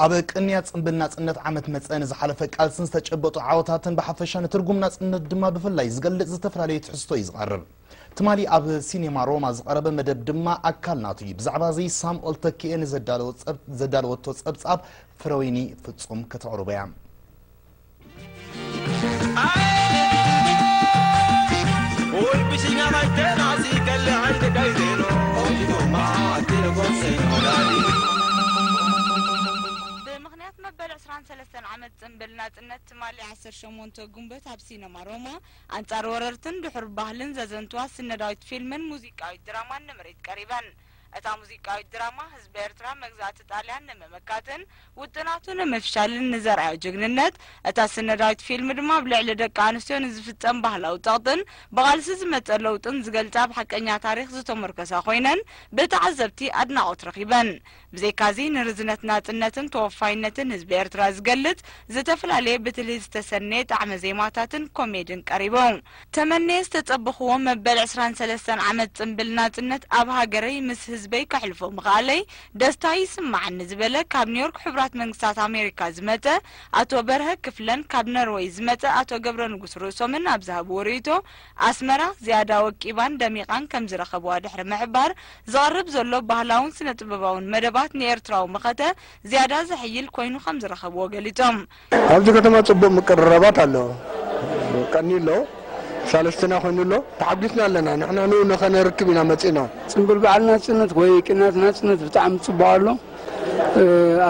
ኣብ ቅንያት ጽምብል ናጽነት ዓመት መጸ ንዝሓለፈ ቃልስን ዝተጨበጡ ዓወታትን ብሓፈሻ ንትርጉም ናጽነት ድማ ብፍላይ ዝገልጽ ዝተፈላለየ ትሕዝቶ እዩ ዝቐርብ። ትማሊ ኣብ ሲኔማ ሮማ ዝቐረበ መደብ ድማ ኣካል ናቱ እዩ። ብዛዕባ እዚ ሳምኦል ተኪኤ ንዘዳለወቶ ጸብጻብ ፍረወይኒ ፍጹም ከተቕርቦ እያ። ብምኽንያት መበል ዕስራን ሰለስተን ዓመት ጽንብል ናጽነት ትማሊ ዓሰርተ ሸሞንተ ጉንበት ኣብ ሲነማ ሮማ ኣንጻር ወረርትን ድሑር ባህልን ዘዘንትዋ ስነዳዊት ፊልምን ሙዚቃዊት ድራማን ንምርኢት ቀሪበን። እታ ሙዚቃዊት ድራማ ህዝቢ ኤርትራ መግዛእቲ ጣልያን ንምምካትን ውጥናቱ ንምፍሻልን ንዘርኣዮ ጅግንነት፣ እታ ስነዳዊት ፊልም ድማ ኣብ ልዕሊ ደቂ ኣንስትዮ ንዝፍጸም ባህላዊ ጸቕጥን ብቓልሲ ዝመጸ ለውጥን ዝገልጻ ኣብ ሓቀኛ ታሪኽ ዝተሞርከሳ ኮይነን ብተዓዘብቲ ኣድናቖት ረኺበን። ብዘይካዚ ንርዝነት ናጽነትን ተወፋይነትን ህዝቢ ኤርትራ ዝገልጽ ዝተፈላለየ ብትልሂት ዝተሰነየ ጣዕመ ዜማታትን ኮሜድን ቀሪቡ። ተመንየ ዝተጸበኹዎ መበል ዕስራን ሰለስተን ዓመት ጽንብል ናጽነት ኣብ ሃገረይ ምስ ህዝበይ ከሕልፎ ምኽኣለይ ደስታ ይስማዓኒ ዝበለ ካብ ኒዮርክ ሕቡራት መንግስታት ኣሜሪካ ዝመጸ ኣቶ በርሀ ክፍለን ካብ ነርወይ ዝመጸ ኣቶ ገብረንጉስ ርእሶምን ኣብ ዝሃብዎ ርእይቶ ኣስመራ ዝያዳ ወቂባን ደሚቓን ከምዝረኸብዋ ድሕሪ ምሕባር ዝቐርብ ዘሎ ባህላውን ስነ-ጥበባውን መደባት ንኤርትራዊ መኸተ ዝያዳ ዘሕይል ኮይኑ ከምዝረኸብዎ ገሊጾም። ኣብዚ ከተማ ጽቡቕ ምቅርራባት ኣሎ። ቀንዩ ኣሎ። ሳልስትና ኮይኑ ኣሎ። ተሓጒስና ኣለና። ንሕና ንኡ ንኸነርክብ ኢና መጺእና። ጽምብል በዓል ናጽነት ወይ ቅንያት ናጽነት ብጣዕሚ ጽቡቕ ኣሎ።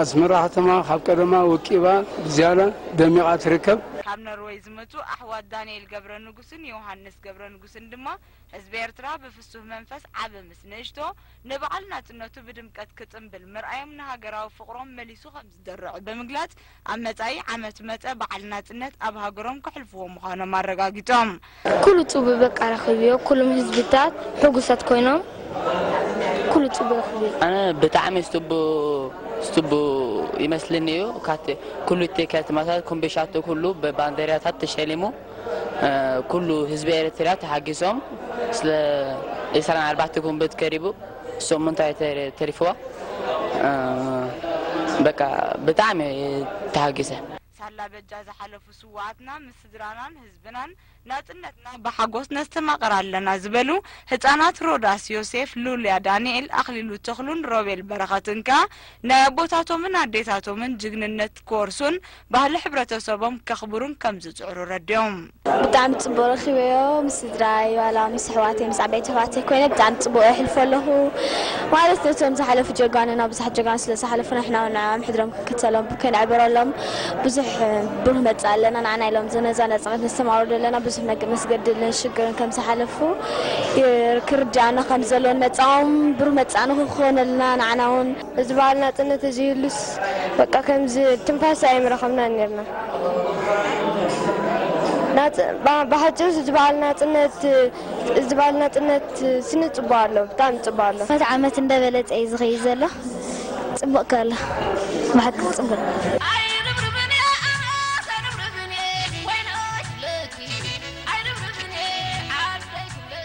ኣስመራ ከተማ ካብ ቀደማ ወቂባ ብዝያዳ ደሚቓ ትርከብ። ካብ ኖርወይ ዝመጹ ኣሕዋት ዳንኤል ገብረንጉስን ዮውሃንስ ገብረንጉስን ድማ ህዝቢ ኤርትራ ብፍሱህ መንፈስ ዓቢ ምስ ንእሽቶ ንበዓል ናጽነቱ ብድምቀት ክጽምብል ምርኣዮም ንሃገራዊ ፍቕሮም መሊሱ ከም ድርዕ ብምግላፅ ኣብ መፃኢ ዓመት መፀ በዓል ናፅነት ኣብ ሃገሮም ከሕልፍዎ ምዃኖም ኣረጋጊፆም። ኩሉ ጽቡቅ በቃ ረኪብዮ ኩሉም ህዝብታት ሑጉሳት ኮይኖም ኩሉ ጽቡቅ ረኪብዮ። ኣነ ብጣዕሚ ስቱቡ ስቱቡ ይመስልኒ እዩ ካቲ ኩሉ ቲከት ማሳት ኩምቢሻቱ ኩሉ ብባንደሪያታት ተሸሊሙ ኩሉ ህዝቢ ኤሪትሪያ ተሓጊሶም ስለ ዒስራን ኣርባዕተ ጉንብት ከሪቡ ሰሙን እንታይ ተሪፍዋ በቃ ብጣዕሚ ተሃጊሰ። ሳላ በጃ ዝሓለፉ ስውኣትና ምስ ስድራናን ህዝብናን ናጽነትና ብሓጎስ ነስተማቕር ኣለና ዝበሉ ህጻናት ሮዳስ ዮሴፍ፣ ሉልያ ዳንኤል፣ ኣኽሊሉ ተኽሉን ሮቤል በረኸትን ከኣ ናይ ኣቦታቶምን ኣዴታቶምን ጅግንነት ክወርሱን ባህሊ ሕብረተሰቦም ከኽብሩን ከም ዝጽዕሩ ኣረዲኦም። ብጣዕሚ ጽቡቕ ረኺበዮ ምስ ስድራይ ዋላ ምስ ኣሕዋተይ ምስ ዓበይቲ ኣሕዋተይ ኮይነ ብጣዕሚ ጽቡቕ የሕልፎ ኣለኹ ማለት ነቶም ዝሓለፉ ጀጋኑና ብዙሓት ጀጋኑ ስለ ዝሓለፉ ንሕና ውን ንዕዖም ሕድሮም ክንክተሎም ከነዕብረሎም ብዙሕ ብሩህ መጻኢ ኣለና ንዓና ኢሎም ነዛ ነጻነት ነስተማቕሮ ዘለና ብዙሕ መስገድልን ሽግርን ከም ዝሓለፉ ክርድኣና ከም ዘሎን መጻኦም ብሩህ መጻኢ ንኽኾነልና ንዓና ውን እዚ በዓል ናጽነት ተዘይህሉስ በቃ ከምዚ ትንፋስ ኣይምረኸብናን ኔርና። ናጽ ብሓጺሩ እዚ በዓል ናጽነት እዚ በዓል ናጽነት ስኒ ጽቡቕ ኣሎ ብጣዕሚ ጽቡቕ ኣሎ። ዓመት ዓመት እንዳበለጸ እዩ ዝኸይድ ዘሎ ጽቡቕ ከሎ ብሓቂ ጽቡቕ።